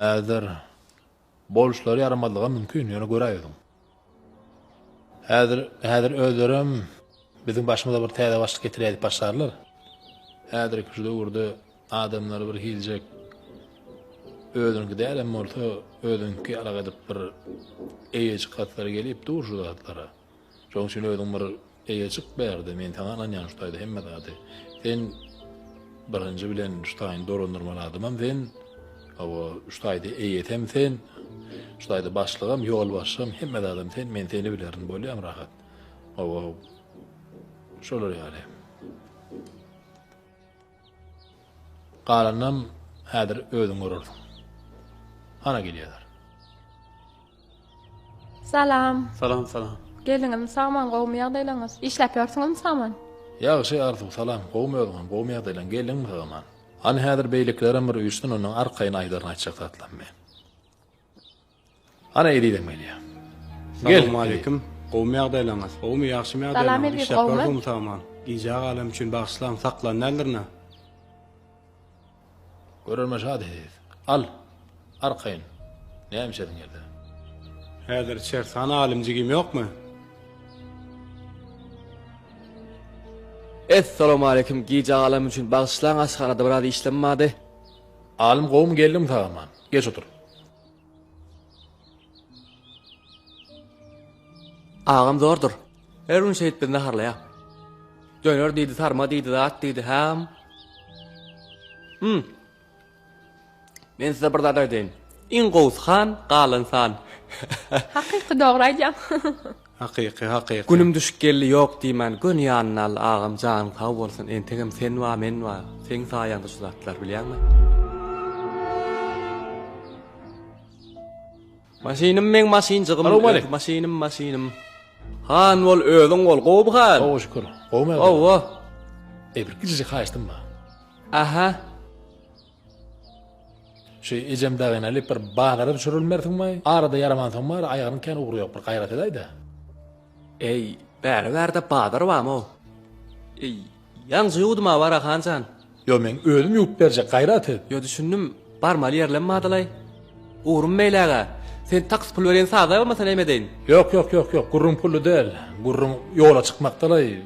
Häzir boluşlary ýaramazlyga mümkin, ýöne göräýüziň. Häzir, häzir özlerem biziň başymyza bir täze başlyk getirýär diýip başlarlar. Häzirki şu döwürde adamlary bir hiljek özüniňki däl hem bolsa özüňki ýalak edip bir eýejik gatlary gelip dur şu zatlara. Şoň üçin özüň bir eýe çyk bärde men saňa ynanýan şu taýda hemme zady sen birinji bilen şu taýyny dolandyrmaly adamam sen hawa şu taýda eýesem sen şu taýda başlygam ýolbaşçym hemme zadam sen men seni bilerin bolýam rahat hawa şolar ýaly. Galanynam häzir özüň görersiň. Hana gelýärler. Salam. Salam salam. Geldiňizmi sagman gowumy ýagdaýlaňyz. Işläp ýörsüňizmi sagman. Ýagşy Arzuw salam gowmy özüňem gowmy ýagdaýlaň geldiňmi sagaman. Hany häzir beýlekilerem bir üýşsün ondan arkaýyn aýdaryn aýtjak zatlarymy. Hany ezizem gelýär. Salowmaleýkim. Gowmy ýagdaýlaryňyz? Gowmy ýagşymy ýagdaýlaryňyz? Iş ýapylar gowmy sag aman? Gijä galem üçin bagyşlaň saklan däldir nä? Görermen şady siz. Al. Arkaýyn. Näme içersiň ýerde? Häzir içeris. Hany Alim jigim ýokmy? Es salowmaleýkim gijä galem üçin bagyşlaň aşhanada biraz işlem bady. Alim gowmy geldiňmi sag aman? Geç otur. Agam zordur. Her gün şeýdip bizni harlaýar. Döner diýdi, sarma diýdi, zat diýdi, häm. Hmm. Men size bir zat aýdaýyn. Iň gowusy han, galan san. Hakyky dogry aýdýaň. Hakyky hakyky. Günüm düşüp geldi ýok diýmän göni ýanyna al agam janyň sag bolsun entegem sen bar men bar seň saýaňda şu zatlar bilýäňmi. Maşynym meň maşynjygym. Salam aleýk. Maşynym maşynym. Han bol özüň bol gowy hal. Gowy şükür. Gowymy? Gowy. Eý bir kiçijik haýyştym bar. Aha. Şu ejem dagy nädip bir bazara düşürilmersiň maý? Arada ýaramansoň bary aýagynyň kän ugry ýok bir gaýrat edäýdä. Eý, bäri bärde bazar bamy? Eý, ýaňja ýuwdum-a bara han jan. Ýo men özüm ýuwup berjek gaýrat et. Ýo düşündim, barmaly ýerlem badalaý. Ugrym beýlägä. Sen taks pul berýän saza bolmasa näme edeýin? Ýok ýok ýok ýok gürrüň pully däl. Gürrüň ýola çykmakdalaý.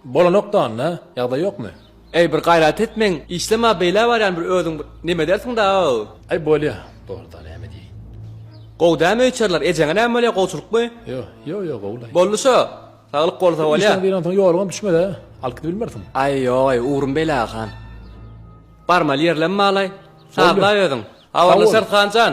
Bolanok danda ýagdaý ýokmy. Eý bir gaýrat et meň işlema beýlä barýan bir özüň bir neme edersiň da. Aý bolýa dogryda näme diýeýin. Gowy dämi öýçerler ejeňe näme bolýa gowçylykmy. Ýo ýo ýo gowulaý. Boldy şo saglyk bolsa bolýa. Işleň zyýansoň ýoluňam düşmezä alyp gidip bilmersiň. Aý ýogaý ugrym beýläge han. Barmaly ýerlem balaý sazlaý özüň. Habarlaşarys hanjan.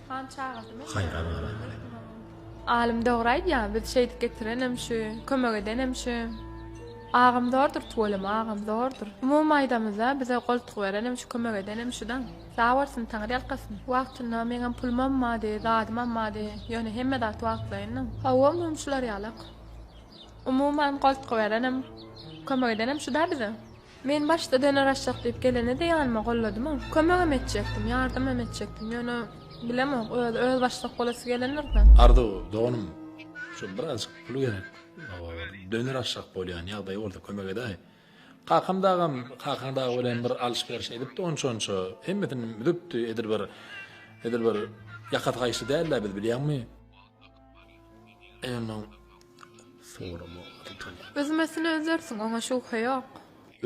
Han çagyrdym. Haýran galaňaly. Alym dogry aýdýa biz şeýdip getirenem şu kömek edenem şu Agam zordur tuweleme agam zordur. Umumy aýdamyzda bize goltgy berenem şu kömek edenem şu daň. Sag bolsun taňyr ýalkasyn. Wagtynda meňem pulum ammady zadym ammady ýöne hemme zat wagtlaýyn daň. Hawa umumy şular ýalak. Umuman goltgy berenem kömek edenem şuda bize. Men başda döner-aşak diýip geleni-de ýanyma golladym-a. Kömegem etjekdim, ýardamam etjekdim. Ýöne, bilemok, özi öz başlyk bolasy gelendir-dä. Arzuw, doganym, şu birazajyk pul gerek. Hawa, bir döner-aşak bolýan ýagdaý bolsa kömek edäý. Kakam dagam, kakaň dagy bilen bir alyş-beriş edipdi onça-onça. Hemmesini düzüpdi, edil bir, edil bir ýakasy gaýşy däl-dä biz, bilýäňmi? Enoň sorama tutuň. Üzmesine üzersiň, oňa şübhe ýok.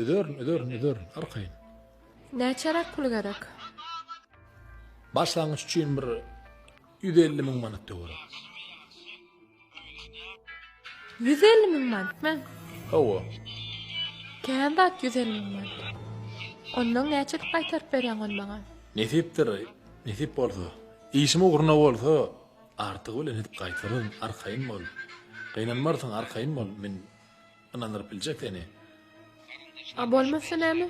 Üzerin, üzerin, üzerin, arkaýyn. Näçeräk pul gerek? Başlangyç üçin bir ýüz elli müň manat töweregi. Ýüz elli müň manatmy? Hawa. Kän zat ýüz elli müň manat. Ondan näçelik gaýtaryp berýäň ony maňa? Nesipdir, nesip bolsa. Işim ugruna bolsa, Artygy bilen edip gaýtaryn arkaýyn bol gynanmarsyň arkaýyn bol men ynandyryp biljek seni. A bolmasa näme?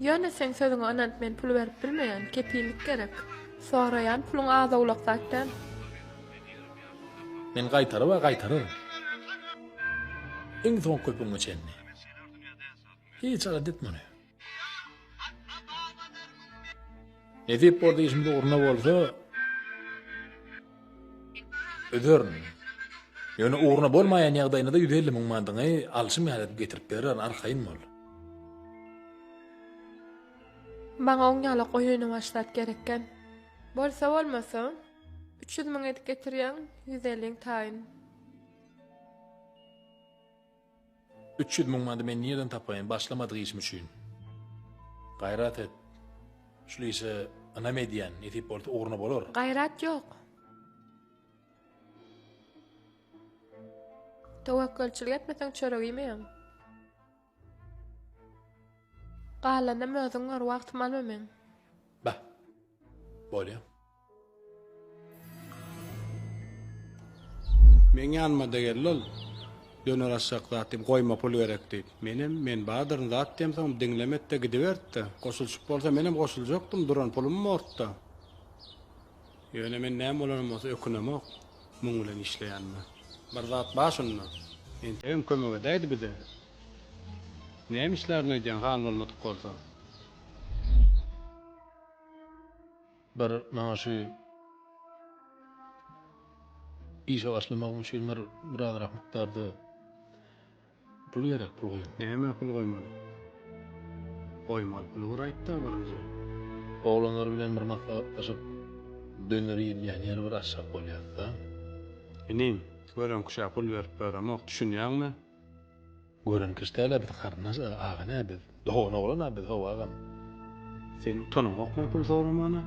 Ýöne seň sözüňe ynanyp men pul berip bilmeýän, kepillik gerek. Soraýan puluň az-owlak zat däl. Men gaýtaryba gaýtaryryn. Iň soňky köpügiňe çenli. Hiç arada et muny. Nesip bolsa işimiz ugruna bolsa öderin. Ýöne ugruna bolmaýan ýagdaýynda-da 150 müň manydyňy alşym ýaly edip getirip berer, arkaýyn bol. Maňa oň ýala goýyny başlap gerekgän. Bolsa bolmasa, üç ýüz müň edip getirýäň, ýüz elliň taýyn. Üç ýüz müň mandy men nireden tapaýyn başlamadyk işim üçin? Gaýrat et. Şul işe ynam edýän, nesip bolsa ugruna bolar. Gaýrat ýok. Töwekgelçilik etmeseň çörek iýmeýäň. Galanynam özüň gör, wagtym alma meň. Bah. Bolýa. Meň ýanyma-da geldi ol. Döner aşjak zat diýip, goýma pul gerek diýip. Menem, men badyryn zat diýemsoňam diňlemedi-de gidiberdi-de. Goşulyşyp bolsa menem goşuljakdym, duran pulum bordy-da. Ýöne men näme bolanam bolsa ökünemok muň bilen işleýänime. Bir zat bar şunda. Entegem kömek edäýdi bize. Näme işlärin öýdýäň han bolmadyk bolsa? Bir maňa şu işe başlamagym üçin bir birazrak mukdarda pul gerek, pul goýun. Nämä pul goýmaly? Goýmaly puly bir aýt-da birinji. Oglanlar bilen bir maslahatlaşyp, döner iýilýän ýeri bir açjak bolýas-da. Inim, göreňki şä pul berip beremok, düşünýäňmi? Gören kişi däl-ä biz garyndaş aga nä biz dogan oglan-a biz how agam. Seniň utanyňokmy pul soramana?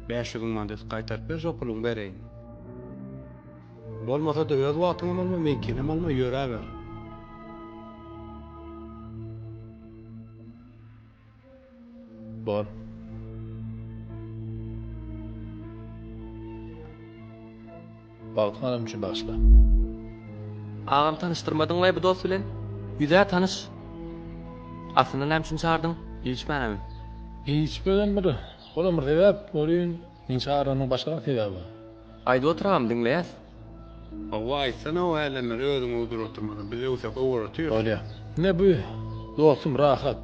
Bäş ýüz müň mandaty gaýtaryp ber şo puluňy bereýin. Bolmasa-da öz wagtyňam alma meňkinem alma ýöräber. Bor. Bagtyň adam üçin bagyşla. Agam tanyşdyrmadyň laý bu dos bilen. Ýüzä tanyş. Aslynda näme üçin çagyrdyň? Hiç many. Hiç birden bir. Olam bir sebäp welin. Nji aranyň başga sebäbi? Aýdyp oturam diňleýäs. Howwa aýtsana o älemleri özüň ugdur oturmadan biz öwse gowy bolar tüýs. Bolýa. Ine bu dostum Rahat.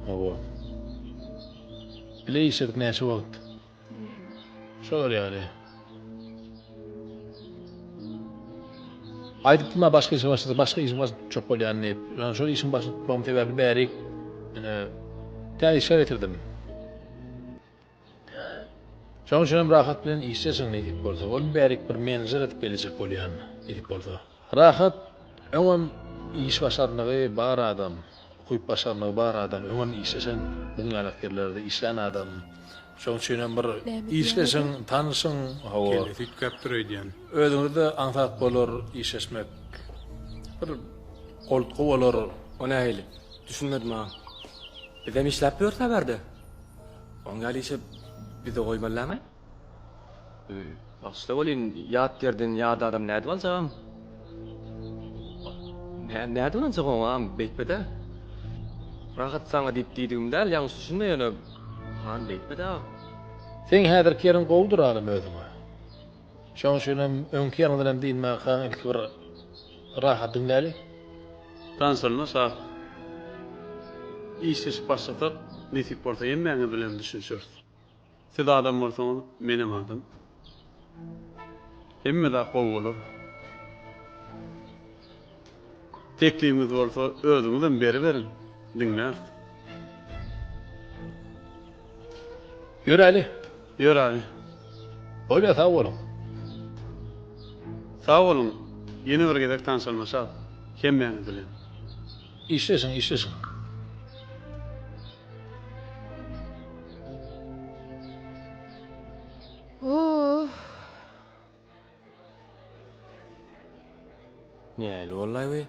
Howwa. Bile işledik näçe wagt. Şolar ýaly. Aýdypdym a başga işe başlasa başga işiň başyny tutjak bolýan diýip. Ýöne şol işiň başyny tutmagym sebäpli bärik ine täze işler getirdim. Şoň üçinem Rahat bilen işleşiň neýdip bolsa. Ol bärik bir menejer edip geljek bolýan neýdip bolsa. Rahat öňem iş başarnygy bar adam, ukyp başarnygy bar adam, öňem işleşen biziň ýalakirlerde işlän adam. Şoň üçinem bir işleşiň, tanyşyň, hawa. Kellesi üýtgäpdir öýdýän. Özüňizde aňsat bolar işleşmek. Bir goltgy bolar. O nähili? Düşünmedim aga. Bizem işläp ýörüs a bärde. Oň ýaly işe bizi goýmazlama. Bagşyla welin, ýat ýerden ýat adam nädip aljagam? Nädip aljak oňam, beýtme-dä. Rahat saňa diýip diýdigim däl, ýalňyş düşünme ýöne. Han, beýtme-dä. Seň häzirki ýeriň gowudyr, anym, özüňe. Şoň üçin hem öňki ýaňydan hem dynmaňkaň ilki bir rahat diňläli. Tans alyna sag. Işleşip başlasak, nesip bolsa hemmäňiz bilenem düşünişeris. Siz adam bolsaňyz, menem adam. Hemme zat gowy bolar. Teklibiňiz bolsa özüňizem beriberiň, diňläris. Ýöräli. Ýöräli. Bolýa sag boluň. Sag boluň. Ýene bir gezek tanşalmaşak. Hemmäňiz bilen. Işleşiň, işleşiň. Ooh. Nähili bollaý we?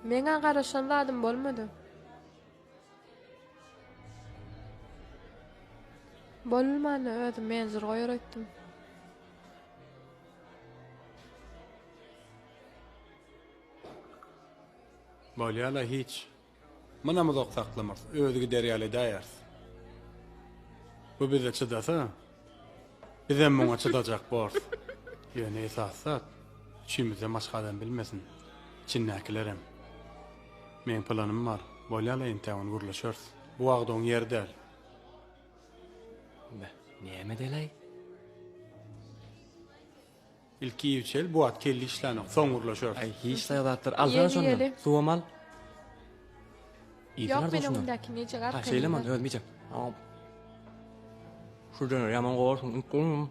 Meň-ä garaşan zadym bolmady. Bolulmany özüm menjur goýar öýtdüm. Bolýa-la hiç. Munam uzak saklamarys, özi gider ýaly edäýeris. Bu bize çydasa, bizem muňa çydajak borus. Ýöne esasy zat, üçümizden başga adam bilmesin, içindäkilerem. Meň planym bar, bolýa-la entä ony gürleşeris. Bu wagt oň ýeri däl. Näme edeli-aý? Ilki iýip içeli, bu wagt kelle işlänok, soň gürleşeris. Aý, hiç saýa zatlar. Alsana şondan, suwam al. Ýok, men öňümdäki neje gap. Ha, şeýleman, özüm iýjek. Şu döner ýaman gowy şuny.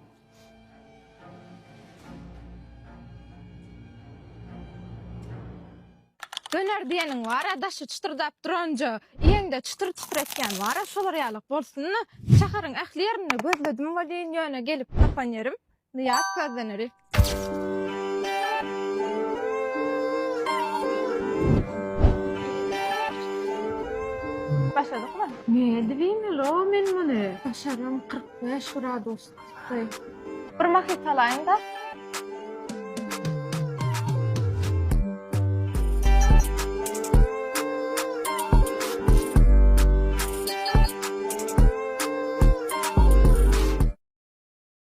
Döner diýeniň bar-a, daşy çytyrdap duranja, iýeňde çytyr-çytyr etýän bar-a, şolar ýalyk bolsun-da. Şäheriň ähli ýerinde gözledim welin, ýöne gelip tapan ýerim. Nyýaz közden öri. Başladykmy? Nädip iýmeli-ow men muny? Başaram, kyrk bäş gradus ysy. Bir mahyt salaýyn-da.